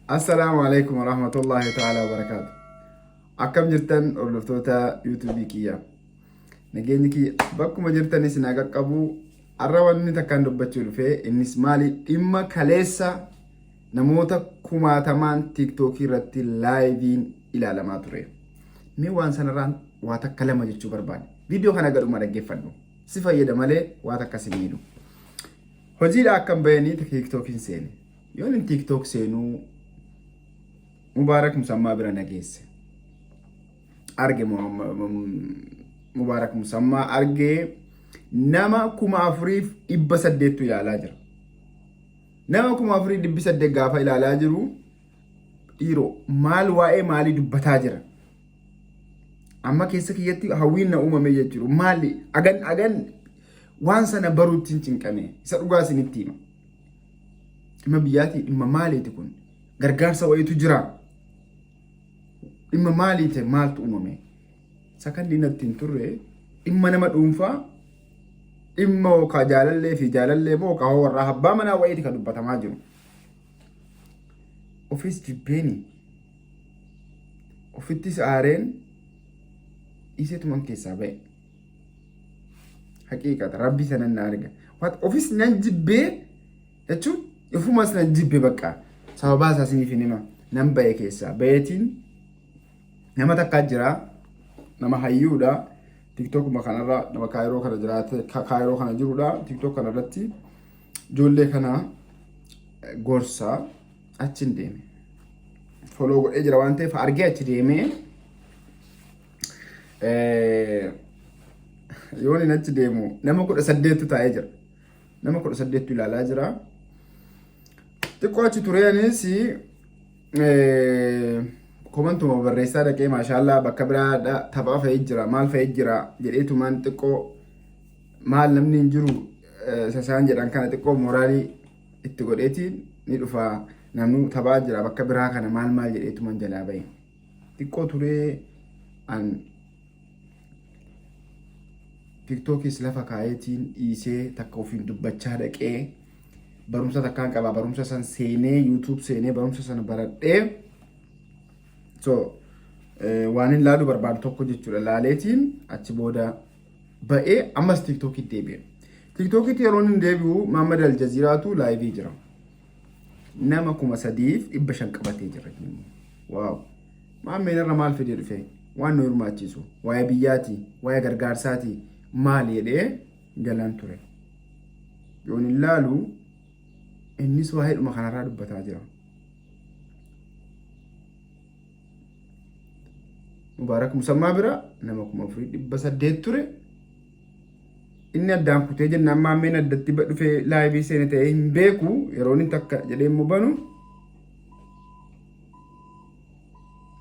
Assalaamu alaikum warahmatullahi ta'ala wabarakaatu. Akkam jirtan hordoftoota YouTube kiyya. Nageenyi kiyya bakkuma jirtan isin haa qaqqabu. Har'a wanni takkaan dubbachuu dhufe innis maali dhimma kaleessa namoota kumaatamaan TikTok irratti laayiviin ilaalamaa ture. Mee waan sanarraan waa takka lama jechuu barbaade. Viidiyoo kana gadhuma dhaggeeffadhu. Si fayyada malee waa takka si miidhu. Hojiidha akkan bahanii tiktookiin seene. Yoon hin tiktook seenuu Mubaarak Musammaa bira na geesse. Arge Mubaarak Musammaa argee nama kuma afuriif dhibba saddeettu ilaalaa jira. Nama kuma afurii dhibbi saddeet gaafa ilaalaa jiru dhiiroo maal waa'ee maalii dubbataa jira? Amma keessa kiyyatti hawwiin na uumame jechuudha. Maali? Agan agan waan sana baruutti hin cinqame. Isa dhugaa isinitti hima. Dhimma biyyaatii dhimma maaliiti kun? Gargaarsa wayiitu jira. Dhimma maaliiti maaltu uumame? Sakandii natti hin turre dhimma nama dhuunfaa dhimma yookaan jaalallee fi jaalallee moo yookaan warraa abbaa manaa wayiiti kan dubbatamaa jiru. ofis jibbeeni ofittis aareen dhiisetuman keessaa ba'e haqiiqata rabbi sanan na arga Wat- ofis nan jibbee jechuun ofumas nan jibbe bakka sababaa isaa isiniif hin hima nan ba'e keessaa ba'eetiin nama takkaa jira nama hayyuudha tiktookuma kanarra nama kaayiroo kana jiraate ka- kaayiroo kana jirudha tiktook kanarratti Ijoollee kana gorsaa achin deeme. Foloo godhee jira waan ta'eef argee achi deemee yoon hin achi deemu nama kudha saddeettu taa'ee jira. Nama kudha saddeettu ilaalaa jira. Xiqqoo achi turee anis komantuma barreessaa dhaqee maashaallaa bakka biraa taphaa fa'ee jira maal fa'ee jira jedheetumaan xiqqoo maal namni hin jiru isa isaan jedhan kana xiqqoo mooraalii itti godheetiin ni dhufa namni taphaa jira bakka biraa kana maal maal jedheetuman jalaa bahe xiqqoo turee an tiktookis lafa kaayeetiin dhiisee takka ofiin dubbachaa dhaqee barumsa takkaan qaba barumsa san seenee yuutuub seenee barumsa sana baradhee so waan hin laaluu barbaadu tokko jechuudha laaleetiin achi booda ba'ee ammas tiiktookiitti deebi'e. Tiiktookiitti yeroo inni deebi'u Maammad Aljaziiraatu laayivii jira. Nama kuma sadiif dhibba shan qabatee jira. Waaw! Maammeen irra maal fidee dhufe? Waan nu hirmaachiisu, waa'ee biyyaati, waa'ee gargaarsaati, maal jedhee galaan ture. Yoon hin laalu innis waa'eedhuma kanarraa dubbataa jira. Mubaarak Musammaa bira nama kuma afurii dhibba saddeet ture. Inni addaan kutee jennaan maammeen addatti ba- dhufee laayivii seene ta'ee hin beeku yeroo inni takka jedhee immoo banu.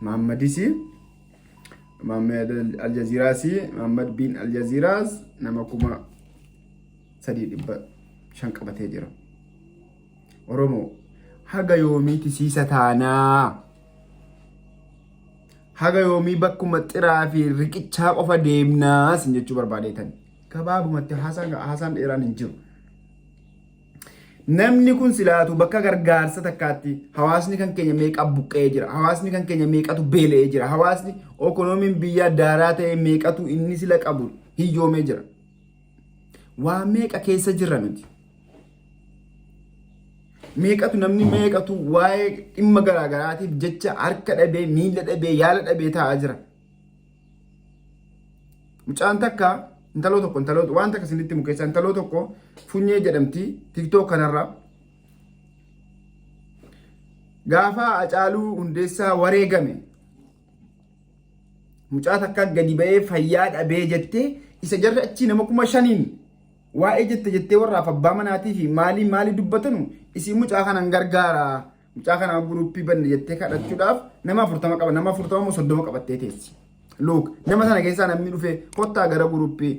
Maammadisi Maammad Aljaziiraasi Maammad bin Aljaziiraas nama kuma sadii dhibba shan qabatee jira. Oromoo haga yoomii tisiisa taanaa? Haga yoomii bakkuma xiraa fi riqichaa qofa deemnaa sin jechuu barbaadeetan. Gabaabumatti haasaan haasaan dheeraan hin jiru. Namni kun silaatu bakka gargaarsa takkaatti hawaasni kan keenya meeqa buqqa'ee jira. Hawaasni kan keenya meeqatu beela'ee jira. Hawaasni okonoomiin biyyaa daaraa ta'e meeqatu inni sila qabu hiyyoomee jira. Waa meeqa keessa jirra nuti? Meeqatu namni meeqatu waa'ee dhimma garaagaraatiif jecha harka dhabee, miila dhabee, yaala dhabee taa'aa jira. Mucaan takka intaloo tokko intaloo waan takka isinitti himu keessaa intaloo tokko funyee jedhamti tiktook kanarraa. Gaafa Hacaaluu Hundeessaa wareegame Mucaa takka gadi ba'ee fayyaa dhabee jettee isa jarri achii nama kuma shaniin waa'ee jette jettee warraaf abbaa manaatii fi maalii maalii dubbatanu isii mucaa kanan gargaara mucaa kanaa guruppii banne jettee kadhachuudhaaf nama afurtama qaba nama afurtama moo soddoma qabattee teessi. Luuk nama sana keessaa namni dhufee kottaa gara guruppii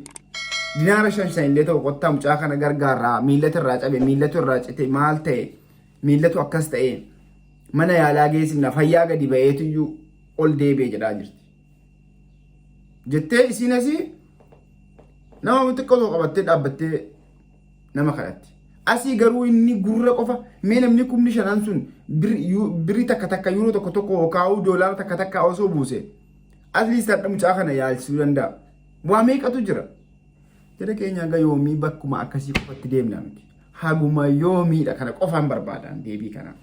dinaara shan shan illee ta'u kottaa mucaa kana gargaarraa miillatu irraa cabe miillatu irraa cite maal ta'e Miillatu akkas ta'ee mana yaalaa geessifna fayyaa gadi ba'eetuyyuu ol deebi'e jedhaa jirti. Jettee isiin asii nama xiqqoo tokko qabattee dhaabbattee nama kadhatti. Asii garuu inni gurra qofa mee namni kumni shanan sun birri takka takka yuuroo tokko tokko yookaan doolaara takka takka osoo buuse atleast hadha mucaa kana yaalchisuu danda'a. Waa meeqatu jira? Jara keenya hanga yoomii bakkuma akkasii qofatti deemna miti. Haguma yoomiidha kana qofaan barbaadaan deebii kana.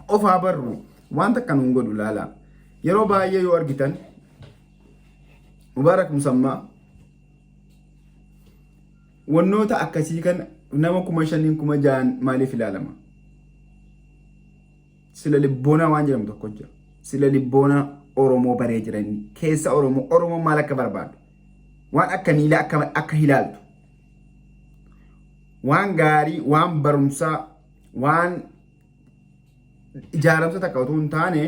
Qofaa barru waan takka nuun godhu laalaa. Yeroo baay'ee yoo argitan Mubaarak Musammaa wannoota akkasii kan nama kuma shaniin kuma ja'an maaliif ilaalama? Sila libboonaa waan jedhamu tokko jira. Sila libboonaa Oromoo baree jiranii keessa Oromoo Oromoo maal akka barbaadu waan akka miilaa akka akka ilaaltu waan gaarii waan barumsaa waan ijaaramsa takka otoo hin taane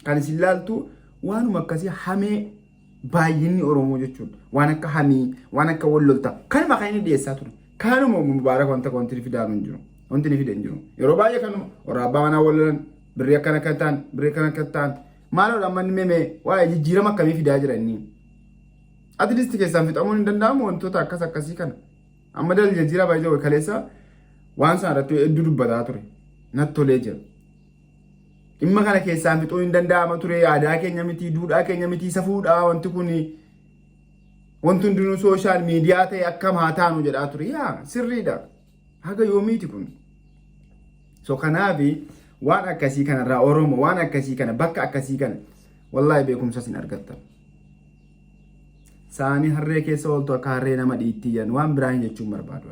kan isin laaltu waanuma akkasii hamee baay'inni Oromoo jechuudha. Waan akka hamii, waan akka wallolta. Kanuma kan inni dhiyeessaa ture. Kanuma mubaarak wanta wanti ni fidaa hin jiru. Wanti ni fida hin jiru. Yeroo baay'ee kanuma warra abbaa manaa wallolan birrii akkana akka ta'an, birrii akkana akka ta'an. Maaloo dhammanni memee waa'ee jijjiirama akkamii fidaa jira inni? At least keessaan fixamuun hin danda'amu wantoota akkas akkasii kana. Amma dal jijjiiraa baay'ee jiru kaleessa waan sana irratti hedduu dubbataa ture. Natti tolee jira. Dhimma kana keessaan fixuu hin danda'ama ture aadaa keenya miti duudhaa keenya miti safuudha wanti kun wanti hundinuu sooshaal miidiyaa ta'e akkam haa taanu jedhaa ture. Yaa sirriidha. Haga yoomiiti kun. So kanaafi waan akkasii kanarraa Oromoo waan akkasii kana bakka akkasii kana wallaahi beekumsas hin argattan. saanii harree keessa ooltu akka harree nama dhiittii jedhan waan biraa hin jechuun barbaadu.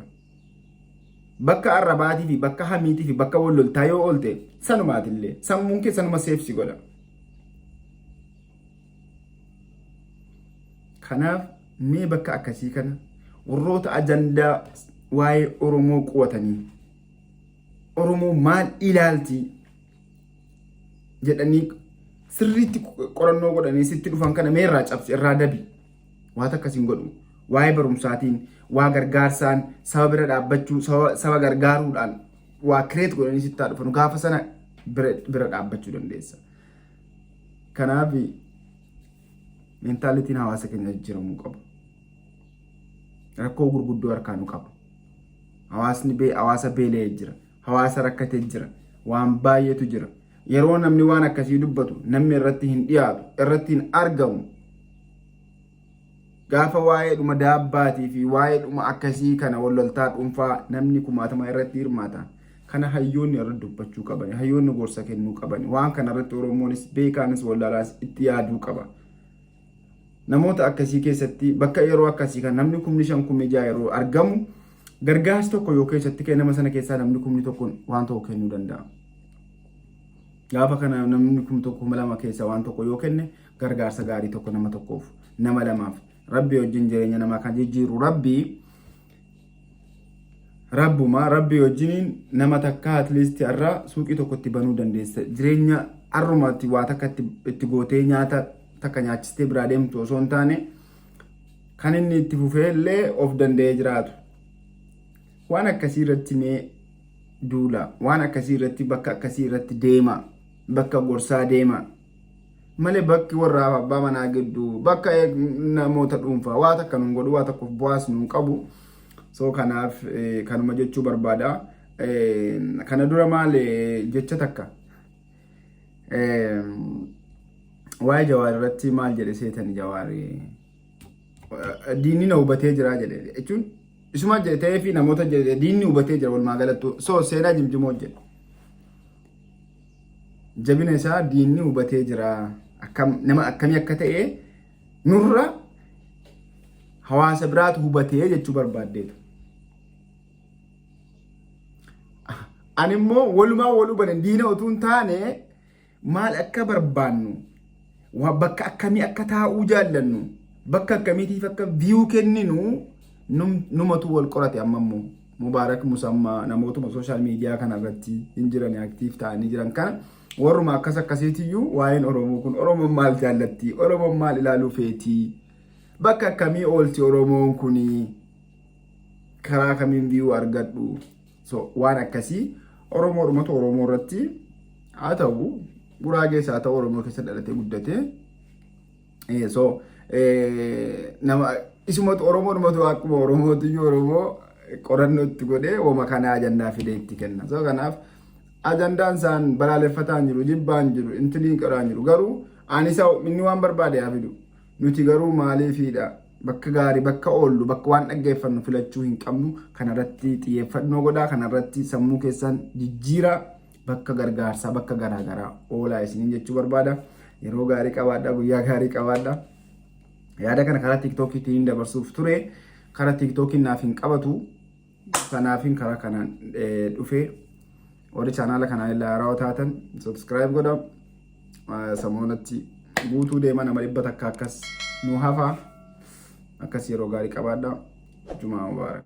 Bakka arrabaatii fi bakka hamiitii fi bakka wal loltaa yoo oolte sanumaatillee sammuun kee sanuma seefsi godha. Kanaaf mee bakka akkasii kana warroota ajandaa waa'ee Oromoo qo'atanii Oromoo maal ilaaltii jedhanii sirriitti qorannoo godhanii sitti dhufan kana mee irraa cabsi irraa dabi waata akkasiin godhu waa'ee barumsaatiin waa gargaarsaan saba bira dhaabbachuu saba gargaaruudhaan waa kireet godhanii sittaa dhufan gaafa sana bira dhaabbachuu dandeessa. Kanaaf meentaalitiin hawaasa keenya jijjiiramuu qabu. Rakkoo gurguddoo harkaa nu qabu. Hawaasni hawaasa beela'ee jira. Hawaasa rakkate jira. Waan baay'eetu jira. Yeroo namni waan akkasii dubbatu namni irratti hin dhiyaatu, irratti hin argamu. Gaafa waa'ee dhuma daabbaatii fi waa'ee dhuma akkasii kana walloltaa dhuunfaa namni kumaatama irratti hirmaata. Kana hayyoonni irratti dubbachuu qaban, hayyoonni gorsa kennuu qaban. Waan kana irratti Oromoonis beekaanis wallaalaas itti yaaduu qaba. Namoota akkasii keessatti bakka yeroo akkasii kan namni kumni shan kumni ja'a yeroo argamu gargaarsi tokko yoo keessatti ka'e nama sana keessaa namni kumni tokko waan tokko kennuu danda'a. Gaafa kana namni kumni tokko kuma lama keessaa waan tokko yoo kenne gargaarsa gaarii tokko nama tokkoof nama lamaaf rabbi wajjin jireenya namaa kan jijjiiru rabbi Rabbuma rabbii wajjiniin nama takkaa at least har'a suuqii tokko itti banuu dandeessa. Jireenya har'uma itti waa takka itti itti gootee nyaata takka nyaachistee biraa deemtu osoo hin taane kan inni itti fufee illee of danda'ee jiraatu. Waan akkasii irratti mee duula. Waan akkasii irratti bakka akkasii irratti deema. Bakka gorsaa deema. malee bakki warra abbaa manaa gidduu bakka namoota dhuunfaa waa takka nuun godhu waa tokkoof bu'aas nuun qabu soo kanaaf kanuma jechuu barbaada kana dura maal jecha takka waa'ee jawaar irratti maal jedhe seetan jawaar diinni na hubatee jira jedhe jechuun isuma jedhe ta'ee fi namoota jedhe diinni hubatee jira walumaa galattu soo seenaa jimjimoo jedhe Jabina isaa diinni hubatee jira. Akkam, nama akkamii akka ta'e nurra hawaasa biraatu hubatee jechuu barbaaddeetu. Ani immoo walumaa wal hubanne diina utuu hin taane maal akka barbaannu Waa bakka akkamii akka taa'uu jaallannu bakka akkamiitiif akka viyuu kenninu num- numatu wal qorate amma immoo mubaarak musammaa namootuma sooshaal miidiyaa kana irratti hin jiran aktiif ta'anii jiran kana warruma akkas akkasiitiyyuu waa'een oromoo kun oromoon maal jaallatti oromoon maal ilaaluu feetii bakka akkamii oolti oromoon kunii karaa kamiin viyuu argadhu So waan akkasii Oromoo dhumatu Oromoo irratti haa ta'u Guraagees haa ta'u Oromoo keessa dhalatee guddate. Eh, So eh, nama isumatu Oromoo dhumatu akkuma Oromootu iyyuu Oromoo qorannoo itti godhee wama kana ajandaa fidee itti kenna. So kanaaf ajandaan isaan balaaleffataan jiru jibbaan jiru intiliin qoraan jiru garuu ani isa inni waan barbaade haa fidu. Nuti garuu maaliifiidha bakka gaarii bakka oollu bakka waan dhaggeeffannu filachuu hin qabnu kanarratti xiyyeeffannoo godhaa kanarratti sammuu keessan jijjiiraa bakka gargaarsaa bakka garaagaraa oolaa isiniin jechuu barbaada yeroo gaarii qabaadha guyyaa gaarii qabaadha yaada kana karaa tiiktookiitiin dabarsuuf ture karaa tiiktookiin naaf hin qabatu Kanaafin karaa kanaan dhufee warri chaanaala kanaan illee haarawaa taatan subscribe godha. Samoonatti guutuu deema nama dhibba takka akkas nu hafa. Akkas yeroo gaarii qabaadha. Jumaa Mubaarak.